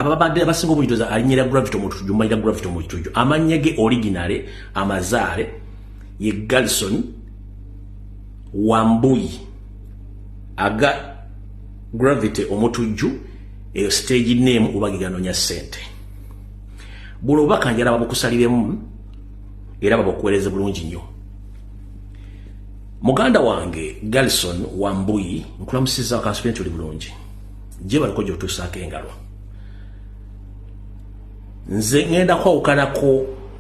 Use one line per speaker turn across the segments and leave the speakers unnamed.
ababadde abasinga obunyidoza alinyira gravity omutujju manyira gravity omutujju amannya ge originale amazaale ye galson wambuyi aga gravity omutujju eyo stage name ubagiganonya sente buno obubaka njala babukusaliremu era babukuwereze bulungi nnyo muganda wange galson wambuyi nkulamusiza wakansubi nti oli bulungi gye baliko gy'otuusaako engalo nze ŋŋenda kwawukanako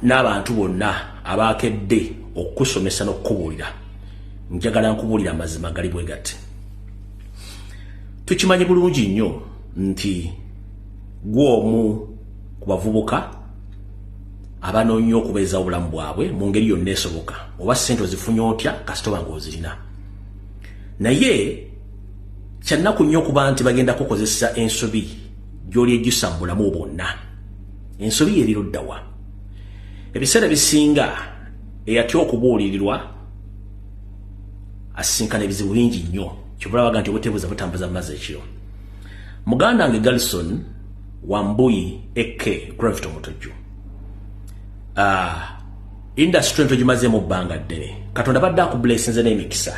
n'abantu bonna abaakedde okukusomesa n'okukubuulira njagala nkubuulira amazima gali bwe gati tukimanyi bulungi nnyo nti gw'omu ku bavubuka abanoonya okubeeza obulamu bwabwe mu ngeri yonna esoboka oba ssente ozifunye otya kasitoba ng'ozirina naye kyannaku nnyo okuba nti bagenda kukozesa ensobi gyoli ejjusa mu bulamu bwonna ensobi yeriruddawa ebiseera ebisinga eyatya okubuulirirwa asisinkana ebizibu bingi nnyo kyobulabaga nti obutebuza butambuza mumazi ekiro muganda nge galison wambuyi ek gravit omutujju ah, Industry nto gimazeemu bbanga ddene. Katonda badde akubulesinze n'emikisa.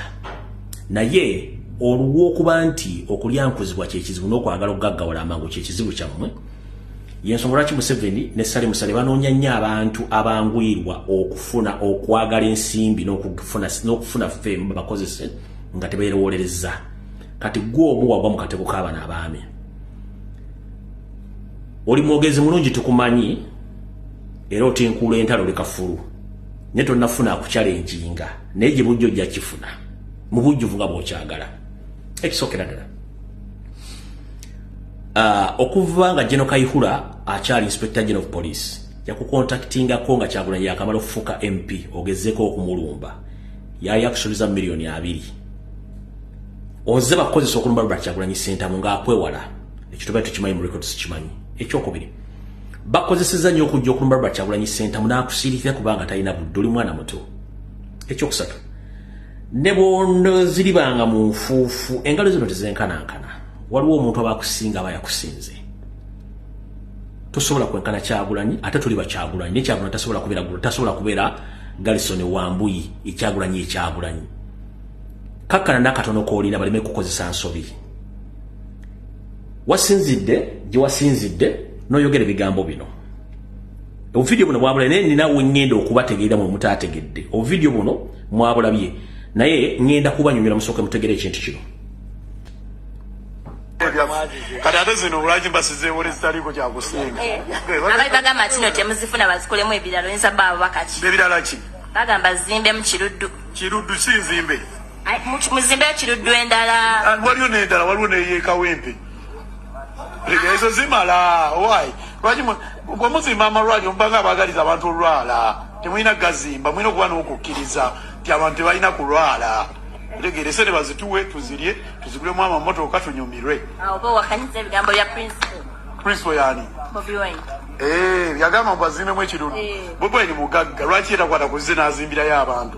Naye oluwa okuba nti okulyankuzibwa kyekizibu n'okwagala okugaggawala amangu kyekizibu kyammwe yensonga lwaki museveni ne sale musale banoonya nnyo abantu abanguyirwa okufuna okwagala ensimbi n'okufuna femu babakozese nga tebeerowolereza kati gwe omu wagwa mu katego k'abana abaami oli mwogezi mulungi tukumanyi era otinkuula entalo leka fulu naye tonafuna akukyala enjinga naye gye bujja ojja kifuna mu bujjuvu nga bwokyagala ekisookera ddala ah, okuva nga geno kaihura akyali inspector gen of police yakukontaktingako nga kyagulanyi yakamala okufuuka mp ogezeko okumulumba yali akusuubiza mu miliyoni abiri oze bakukozesa okulumba lubala kyagulanyi sentamu ngaakwewala ekyo tuba tukimanyi mu records kimanyi ekyokubiri bakozeseza nyo okujja okulumba Robert Kyagulanyi Ssentamu n'akusiirikira kubanga talina budde oli mwana muto ekyokusatu ne bwonoziribanga mu nfuufu engalo zino tezenkanankana waliwo omuntu aba akusinga aba yakusinze tosobola kwenkana Kyagulanyi ate tuli bakyagulanyi naye Kyagulanyi tasobola kubeera gulo tasobola kubeera Galison Wambuyi ekyagulanyi ekyagulanyi kakkana n'akatono k'olina baleme kukozesa nsobi wasinzidde gye wasinzidde n'oyogera ebigambo bino obuvidiyo buno bwabula naye nina wengenda okubategeera mwe mutaategedde obuvidiyo buno mwabulabye naye ngenda kubanyumira musooke mutegere ekintu kino
kati ate zino lwaki mbasizeewo lezitaliiko kyakusinga eh, abaali bagamba
kino temuzifuna bazikolemu ebirala oyinza baabo bakaki ebirala ki
bagamba zimbemu
kiruddu kiruddu kinzimbe
muzimbe
ekiruddu endala ah, waliwo nendala waliwo
neyekawempe ezo zimala owaayi lwaki bwemuzimba amalwaliro mubanga abagaliza abantu olwala temulina gazimba mulina okuba nokukkiriza nti abantu tebalina kulwala otegeera esente bazituwe tuzirye tuzigulemu amamotoka tunyumirwe
principal
yani
eh, yagamba
mbu azimbemu ekirundu eh. bobi wine mugagga lwaki yetakwata kuzze nazimbirayo abantu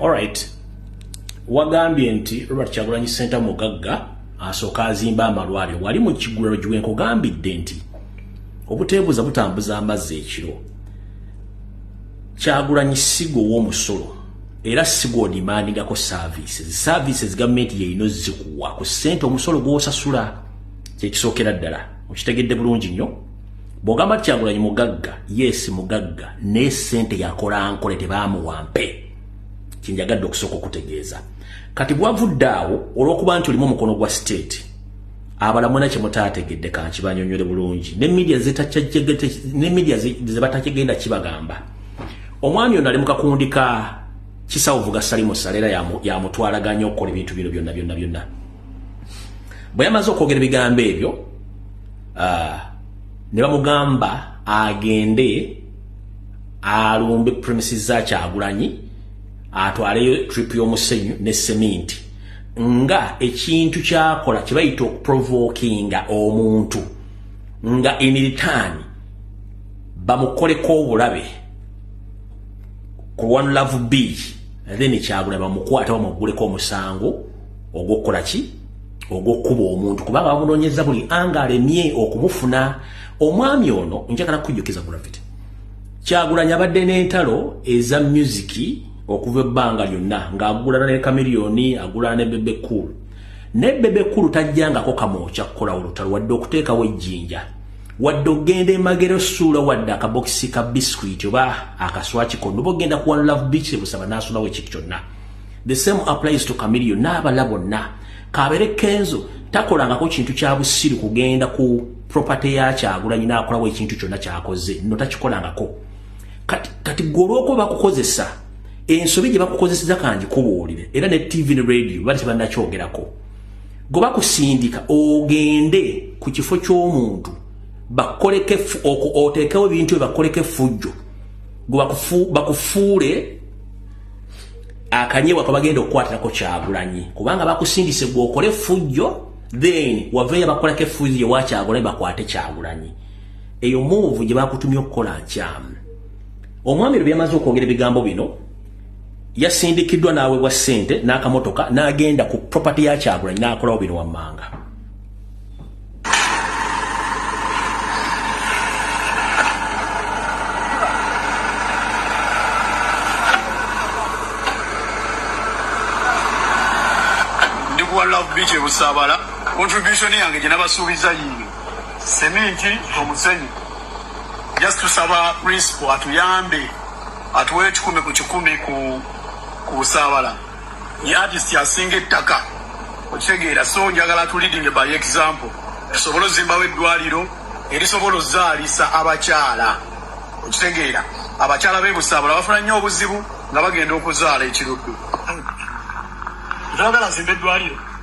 Alright.
Wagambye nti Robert Kyagulanyi Senta mugagga asooka azimba amalwaliro wali mu kigulalo giwe nkugambidde nti obuteebuza butambuza amazzi ekiro Kyagulanyi sigo w'omusolo era sigo odimandingako services services gavumenti yeyino zikuwa ku ssente omusolo gw'osasula kyekisookera ddala okitegedde bulungi nnyo bwogamba ti kyagulanyi mugagga yes mugagga naye sente yakola nkole tebamuwampe kyenjagadde okusooka okutegeeza kati bwavudde awo olwokuba nti olimu omukono gwa state abalamuna kyemutategedde kankibanyonyole bulungi ne media zebatakigenda kibagamba omwami ono ali mukakundika kisawuvuga salimu salera yamutwalaganya okukola ebintu bino byonna byonna byonna bwe yamaze okwogera ebigambo ebyo uh, ne bamugamba agende alumbe premises za kyagulanyi atwaleyo trip y'omusenyu ne seminti nga ekintu kyakola kyebayita okuprovokinga omuntu nga in return bamukoleko obulabe ku one love b then kyagula bamukwata bamugguleko omusango ogw'okukola ki ogw'okukuba omuntu kubanga bamunoonyeza buli anga alemye okumufuna omwami ono njagala kukujjukiza gravity kyagulanyi abadde n'entalo eza musiki okuva ebbanga lyonna ng'agulana ne kamiriyoni agulana ne bebe cool ne bebe cool tajjangako kamwokya kukola olutalo wadde okuteekawo ejjinja wadde ogenda emagero suula wadde akabokisi ka biscuit oba akaswaki konoba ogenda kuwa love beach ebusaba n'asulawo ekiki kyonna the same applies to Chameleon n'abala bonna kabere Kenzo takolangako kintu kya busiru kugenda ku property ya Kyagulanyi n'akolawo ekintu kyonna kyakoze no takikolangako kati kati gwolwokuba bakukozesa ensobi gye bakukozeseza kangi kubuulire era ne TV ne radio bali tebannakyogerako gwe bakusindika ogende ku kifo ky'omuntu bakoleke oteekewo ebintu bye bakoleke fujjo gwe bakufuule akanyebwa kabagenda okukwatirako kyagulanyi kubanga bakusindise gwokole fujjo then waveyo bakolako efujjo yewa kyagulanyi bakwate kyagulanyi eyo muvu gye bakutumye okukola nkyamu omwami lwe byamaze okwogera ebigambo bino yasindikiddwa n'awebwa ssente n'akamotoka n'agenda ku property ya kyagulanyi n'akolawo bino wammanga
biiki ebusaabala contribution yange gye nabasuubiza yiyo seminti omusenyu just tusaba principal atuyambe atuwe ekikumi ku kikumi ku busaabala ye artist asinga ettaka okitegeera so njagala tu leading by example tusobole ozimbawo eddwaliro erisobola ozaalisa abakyala okitegeera abakyala bebusaabula bafuna nnyo obuzibu nga bagenda okuzaala ekiruddu twagala zimba eddwaliro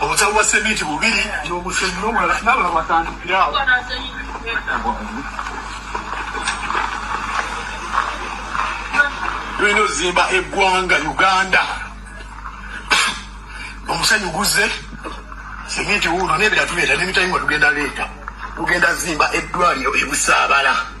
obusawo bwa seminti bubiri nomusenyi nomulala nabala batandikirawo tulina ozimba eggwanga uganda omusenyi guze seminti wuuno nebiratubeera nemitayimwa tugenda leeta tugenda zimba eddwaliro ebusaabala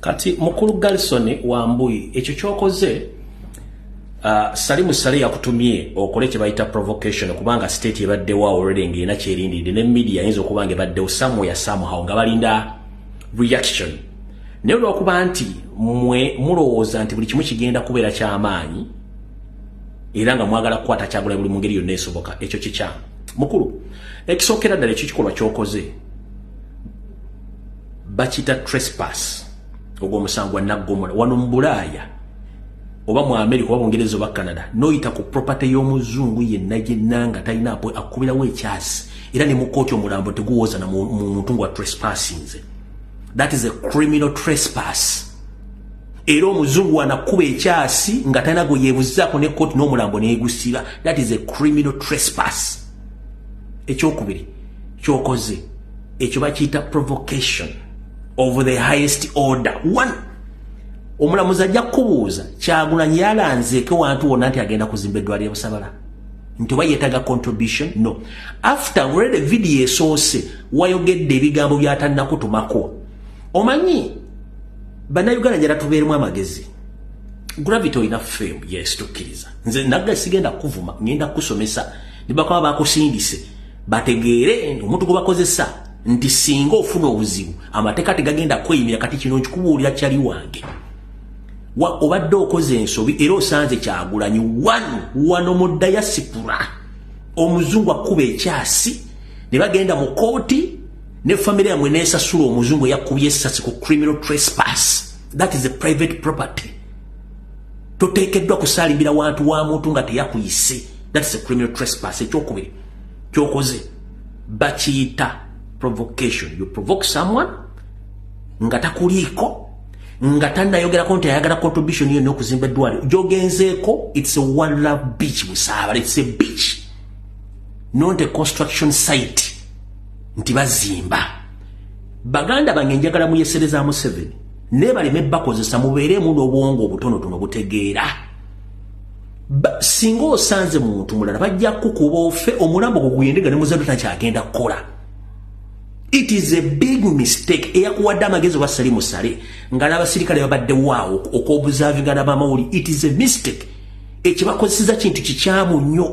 kati
mukulu garison wambuyi ekyo kyokoze uh, salimu sale yakutumye okole kyebayita provocation kubanga state ebaddewo already ngaena kyerindidde ne media ayinza okuba nga ebaddewo somewhere somehow nga balinda reaction naye olwokuba nti mwe mulowooza nti buli kimu kigenda kubeera kyamaanyi era nga mwagala kukwata kyagula buli mu ngeri yonna esoboka ekyo kikyamu mukulu ekisookera ddala ekyo kikolwa kyokoze bakiyita trespass ogwo omusango gwa naggomola wano mu bulaaya oba mu amerika oba bungereza oba canada noyita ku propaty y'omuzungu yenna gyenna nga talina apo akukubirawo ekyasi era ne mukooti omulambo teguwooza na muntu nga trespassingze that is a criminal trespass era omuzungu wanakuba ekyasi nga talina gwe yebuzaako ne kooti n'omulambo negusiba that is a criminal trespass ekyokubiri kyokoze ekyo bakiyita provocation of the highest order one omulamuzi ajja kukubuuza kyagulanyi yalanzeeko wantu wonna nti agenda kuzimba eddwaliro busabala nti oba yetaga contribution no after already video esoose wayogedde ebigambo byatanakutumako omanyi Bannayuganda njala tubeeremu amagezi. Gravity olina fame yes tukkiriza. Nze nagga sigenda kuvuma ngenda kusomesa ne bakaba bakusindise bategeere omuntu gwe bakozesa nti singa ofuna obuzibu amateeka tegagenda kweyimira kati kino nkikubuulira kyali wange. Obadde okoze ensobi era osanze kyagulanyi wano wano mu dayasipula omuzungu akkuba ekyasi ne bagenda mu kooti ne family yamwe nesasula omuzungu yakubye essasi ku criminal trespass that is a private property toteekeddwa kusaalimbira wantu wa muntu nga teyakuyise that is a criminal trespass ekyokubiri kyokoze bakiyita provocation you provoke someone nga takuliiko nga tanayogerako nti ayagala contribution yonna okuzimba eddwaliro gyogenzeeko its a one love beach musaabala its a beach not a construction site nti bazimba baganda bange njagala muyesereza museveni nebaleme bakozesa mubeeremu n'obwongo obutonotono butegeera singa osanze muntu mulala bajja kukuba ofe omulambo guguyendega ne muzadde takyagenda kukola it is a big mistake eyakuwadde amagezi oba sali musale nga n'abasirikale babadde waawo okwobuzavingana bamawuli it is a mistake ekibakozeseza kintu kikyamu nnyo